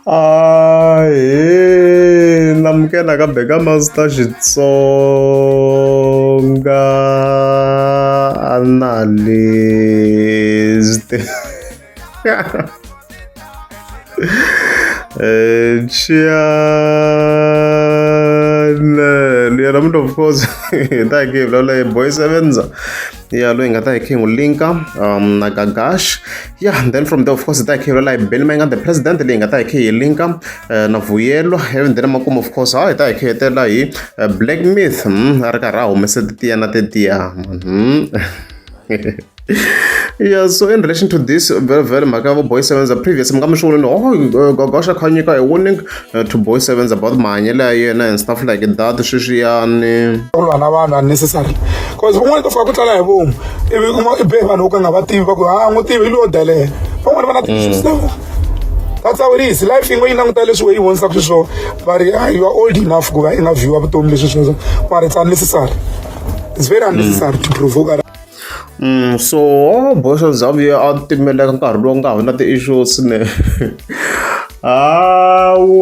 ahe namukela ka beka master xitsonga analyst Eh, Chianelli, and I'm of course, thank you, Lola, boy, seven. ya loyi hi nga ta hi khe hi n'wi linka um na gagash ya then from there of course hi ta hi khe hi lwela hi beli ma yi nga the president leyi hi nga ta hi khe hi linka eh, na vuyelwa and then makumu of course ha hi ta hi khe hi hetelela hi eh, black myth mm, a ri karhi a humese titiya na titiya mm. yeah so in relation to this very very mhaka ya vo boy sevenza previous mi nga mi swi vulini oh eh, gagash a kha nyika hi warning to boy sevens about mahanyelo ya yena and stuff like that sweswiyani ku lwa na vanhu unnecessary cause van'wana to fika ku tlala hi vomu ivi kuma i be vanhu vo ka nga va tivi va ku ha n'wi tivi hi lowo delela van'wana va na ti-issues ta vona that's how it is life yin'we yi languta leswi we yi vonisaka xiswona va ri "Ah, you are old enough ku va i nga vhiwa vutomi leswi sweswo mara it's unnecessary it's very unnecessary to provoke so boxa bya vuya a timeleka nkarhi lowu nga hona ti-issue swinene hawu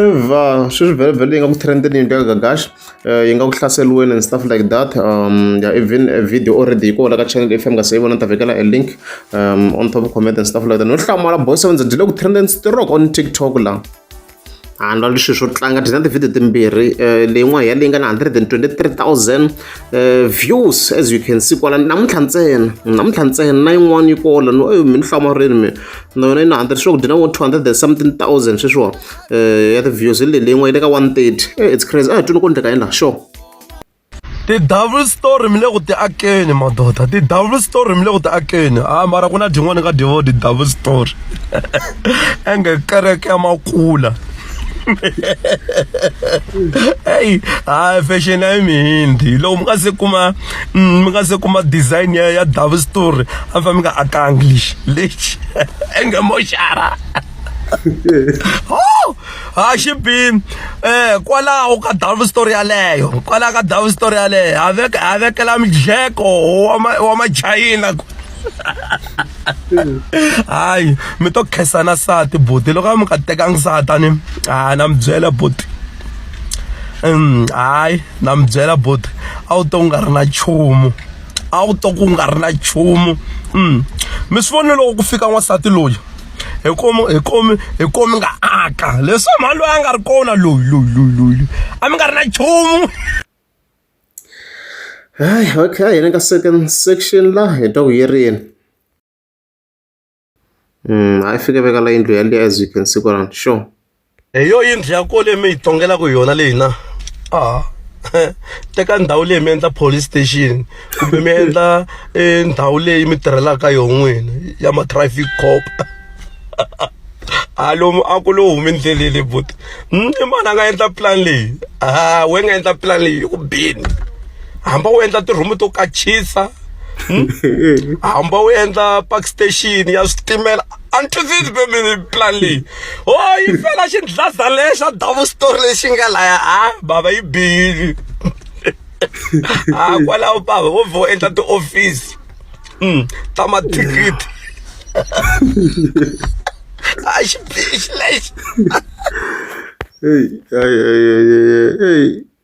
eva sweswi vhelevhele yi nga ku trendeni yinto ya gagash eh, yi nga ku hlaseliweni and stuff like that um ya even a video already yi kona ka channel if nga se yi vona ta vekela a link um on top comment and stuff like that no hlamala boy seven ndzi le ku trendeni strok on tiktok la handle wa leswi swo tlanga ti na tivhidiyo timbirhi eh, leyin'wana ya leyi nga na 123000 eh, views as you can see kwala namuntlha ntsena namuntlha ntsena na yin'wana yi kola no eyi mi ni hlamarini mi na yona yi na 100 swi ku dyi na vo 200 something thousand sweswiwa eh, ya ti-views hi leyi leyin'wana yi le ka 130 it's crazy a hi twini ko ndleka yini laha sure ti double story mi le ku ti akeni madoda ti double story mi le ku ti akeni ha ah, mara ku na dyin'wana ni nga dyivo ti double story enge kereke ya makula eyi hayi ah, fashion ya mihindi loko mi nga se kuma mm, mi nga se kuma design ya ya double story a mi fa mi nga akangi lexi lexi enge moxara oh! ha xi bi um eh, kwalaho ka dove story yaleyo kwalaho ka dove story yaleyo ha veka ha vekela midleko wa machayina hayi mi to khesana sati buti loko a mi nga tekangi satani hayi na mi byela buti hayi na mi byela buti a wu to nga ri na nchumu a wu to ku nga ri na nchumu mm. mi swi vone loko ku fika n'wansati loyi hi komi hi komi hi komi nga aka leswi mhani loyi a nga ri kona loyi loyi loyi loyi a mi nga ri na nchumu hayi okay hi le ka second section la hi ta ku yi rini hayi fike veka la yindlu yaliya as you can see kwalana sure hi yo yindlu ya ko leyi mi yi tongelaka yona leyi na a teka ndhawu leyi mi endla police station kumbe mi endla eh, ndhawu leyi mi tirhelaka yo n'wini ya ma-traffic cop a lomu a ku lowu humi ndlelele but hmm, i mani a nga endla plan leyi a we nga endla plan leyi yi ku bini hamba u endla tirhumu to kachisa Hmm? hamba wu endla park station ya switimela a ni twisisi pembeni plan leyi o yi fela xindlaza lexa double story lexi nga laya a bava yi bihile a kwalaho bava wo vhe u endla tiofisi um ta mathikithi a xi bihi xi lexi Hey, hey, hey, hey, hey, hey.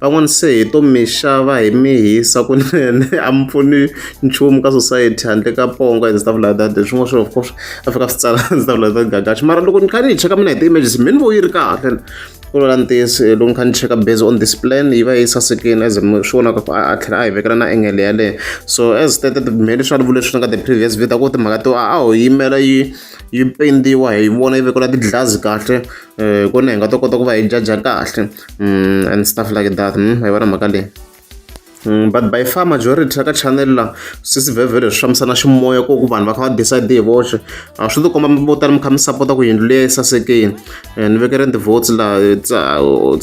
van'wani se hi to mi xava hi mi hisa kunene a mi pfuni nchumu ka society handle ka ponga and stuff like that swin'wana swo of course a fika swi tsala and stuff like that gagaxi mara loko ni kha ni yi cheka mina hi ti-images mi ni vo yi ri kahle ku lola ntiyiso eh, loko ni kha ni cheka based on this plan yi va yi sasekile as mi swi vonaka a a tlhela a hi vekela na engele yaleyo so as stated me leswi a ni vule leswi nga the previous video ku timhaka to a a ho yimela yi yi pendiwa hi vona yi vekela ti-glass kahle um kona hi nga ta kota ku va hi jaja kahle mm, and stuff like that mm, hi vona mhaka leyi Mm, but by far majority ya ka channel la swi swivhevhe leswi fambisana ximoya ko ku vanhu va kha va decide hi voxe a swi tikomba vo tala mi kha mi sapota ku yindlu leyi sasekeni eh, ni vekele ni ti-votes la it's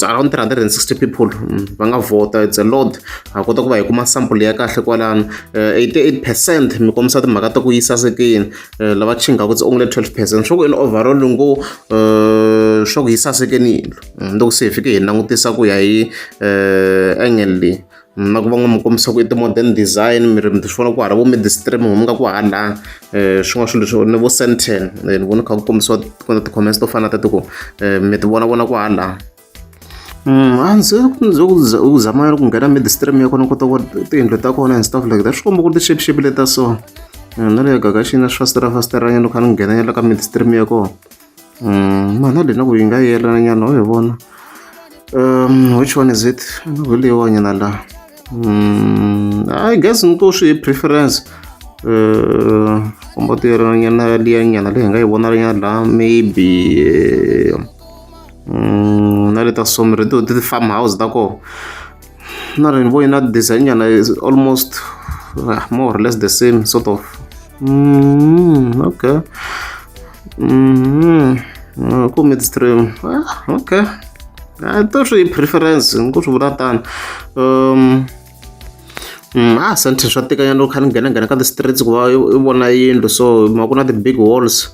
around 360 people mm, va nga vota it's a lot ha kota ku va hi kuma sample ya kahle kwalano 88 eh, percent mi kombisa timhaka ta ku yi sasekeni eh, lava chingaka it's only 12 percent swa ku in overall ngo swa ku yi sasekeni yindlu mm, loko se hi fike hi langutisa ku ya hi um angle leyi mm, na ku va n'wi mi kombisa ku i ti-modern design mi ri mi ti vona ku hala vo midistream mi nga ku hala um swin'wana swilo leswi ni vo centen ni vona kha ku kombisiwa kona ti-comments to fana na tatiku um mi ti vona vona ku hala Mm, a ndzi ndzi u zamela ku nghena midstream ya kona kota ku tiyindlu ta kona and stuff like that swi komba ku ri tixepixepi leta so na le gagaxini na swi fasitirafasitiranyana loko a ni nghenanyela ka midstream ya kona Mm, mani adena ku yi nga yelana nyana u yi vona um which one is it veliwa nyana la mm, i guess ni to swi preference uh, komba ti yelana nyana liya nyana leyi hi nga yi vona nyana la maybe um, na le ta somre ti ti farm house ta kona na ni voyi na design nyana is almost uh, more or less the same sort of mm, okay mm, uh, ku midstream ah, okay ah, to swi preference ni ku swi vula tani um, Mm, ah sentence swa tekanyana loko kha ni nghena nghena ka ti-streets ku va i vona yindlu so ma ku na ti-big walls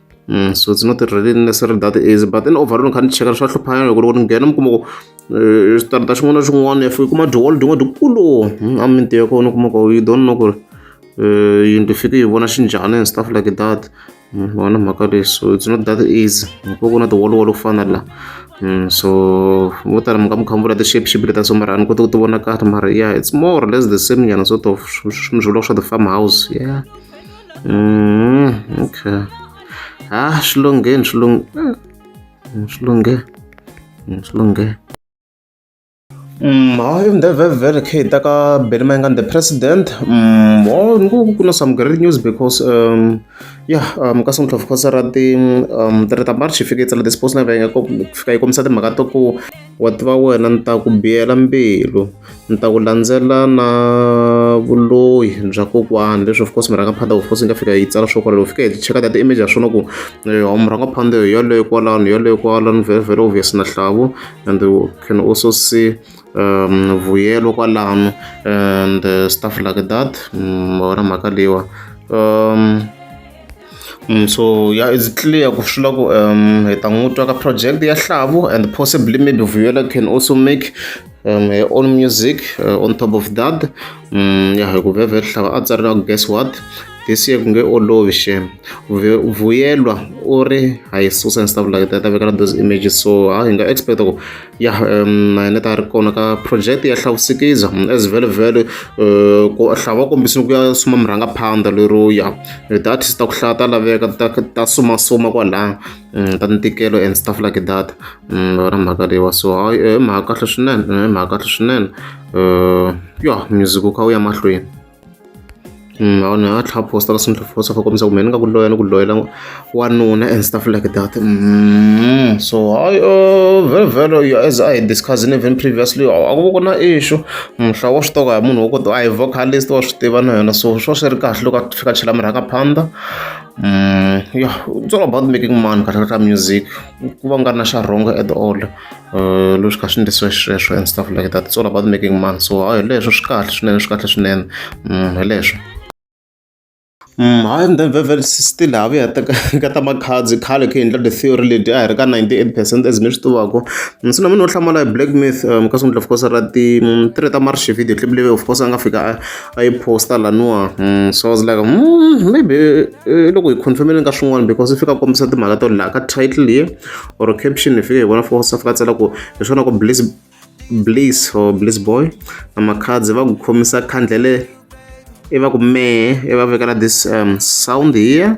so it's not really necessary that easy but then overall ni kha ni cheka swa hluphanyana loko loko ni nghena mi kuma ku xitarata xin'wana na xin'wana if i kuma dyolo dyin'we dikulu a minti ya kona u kuma ku you don't know ku ri yindlu fike yi vona xinjhani and stuff like that vona mhaka leyi so it's not that easy ko ku na tiwoliwolo ku fana la so vo tala mi nga mi khamvula ti-shape shape leta so mara a ni koti ku ti vona kahle mara yeah it's more or less the same nyana sort of swilo swa ti-farm house yeah Mm, okay. Ah, swi lungheni swi lunghe. Mm, swi lunghe. Mm, swi lunghe. Mm, hayi ndevhevhele khe hi ta ka beli mayengani the president mm, o ni ku ku na some great news because um, ya um, ka sungula fokasa ra ti um, three ta march hi fike yi tsala ti-sports na venge ku fika yi kombisa timhaka to ku Wa tiva wena ni ta ku biyela mbilu ni ta ku landzela na vuloyi bya kokwani leswi of course murhang'a phanda of course yi nga fika yi tsala swo kwalalo u fika hi cheka ta ti-image ya swona ku yoho murhang'a phanda hi yoleyo kwalano hi yoleyo kwalano very very obvious na hlavu and you can also see um vuyelo kwalano and stuff like that ma wona mhaka leyiwa um. so ya is clear ku swi la ku um hi ta n'wi twa ka project ya hlavu and possibly maybe vuyela can also make um, her own music uh, on top of that um, ya hi ku veve hlava a tsarela ku guess what this year ku nge olovi shem vuyelwa u ri hayi susa and stuff like that a vekela those images so ha hi nga expect ku ya um na hina ta ri kona ka project ya hlawusikiza as vele vele eh, ku hlava va kombisini ku ya suma murhangaphandha lero ya data ta ku hlaya ta laveka ta ta sumasuma kwalaya mm, ta ntikelo and stuff like that mm, vona mhaka leyiwa so hayi eh, i mhaka kahle swinene i mhaka kahle swinene um ya music wu kha wu ya mahlweni ni nga tlhela poster se ni tlhela poster for kombisa ku mehe ni nga ku loyela ku loyela wanuna and stuff like that so hayi vhele vhele you as I discussed even previously a ku ku na issue mhla wa swi toka hi munhu wa ku a hi vocalist wa swi tiva na yena so swo swi ri kahle loko a fika a chela mirhaka phanda ya it's all about making money kahle ka music ku va nga ri na xa wrong at all. uh, leswi kha swi endlisiwe xisweswo and stuff like that it's all about making money so hayi hi leswo swi kahle swinene swi kahle swinene mm, hi leswo Mm, hayi and then vevele still ha vuya ka ta makhadzi khale kha endla the theory leti a hi ri ka 98 percent as mi swi tivako mm, se na munhu wo hlamala hi black myth um ka sungula of course ra ti mm, tiri ta marshi video clip leyi of course a nga fika a yi posta laniwa so i was like maybe eh, loko hi confirmele ka swin'wana because i fika kombisa timhaka to laha ka title ye or caption ni fike hi vona for south katsela ku hi swona ku bliss bliss or bliss boy na makhadzi va ku khomisa khandlele i va ku mehe i va vekela this um, sound here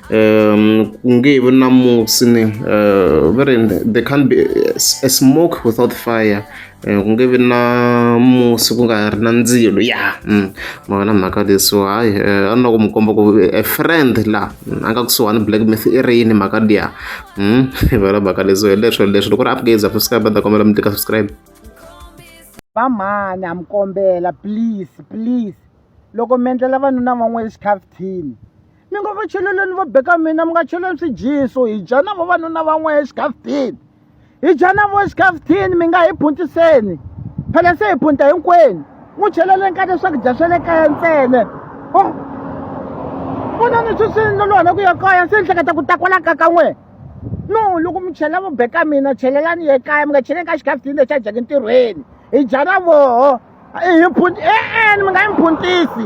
um, even na musi ni uh, there can't be a, a smoke without fire Eh, ku nge vi na musi ku nga ri na ndzilo ya mm. ma wena mhaka leswo hayi eh, a ni na ku mi komba ku a eh, friend la mm, a nga kusuhani black myth i ri yini mhaka liya mm. vela mhaka leswo hi leswo leswi loko ri upgaze a subscribe a ta kombela mi tika subscribe vamhani a mi kombela please please loko mi endlela vanuna van'we exikhafuthini ni ngo va cheleleni va beka mina mi nga cheleni swijiso hi dya na vavanuna van'wana exikafutini hi dya na vo exikafutini mi nga hi phuntiseni phela se hi phunta hinkwenu n'wi cheleleni ka leswakudya swa le kaya ntsene oh. vona ni swi swi lolwana ku ya kaya se ni hleketa ku ta kwala ka ka n'wena no loko mi chela vo beka mina chelelani ye kaya mi nga cheleni ka xikafutini lexi a dyaka ntirhweni hi dya na voho hi phunti e-e mi nga yi mi phuntisi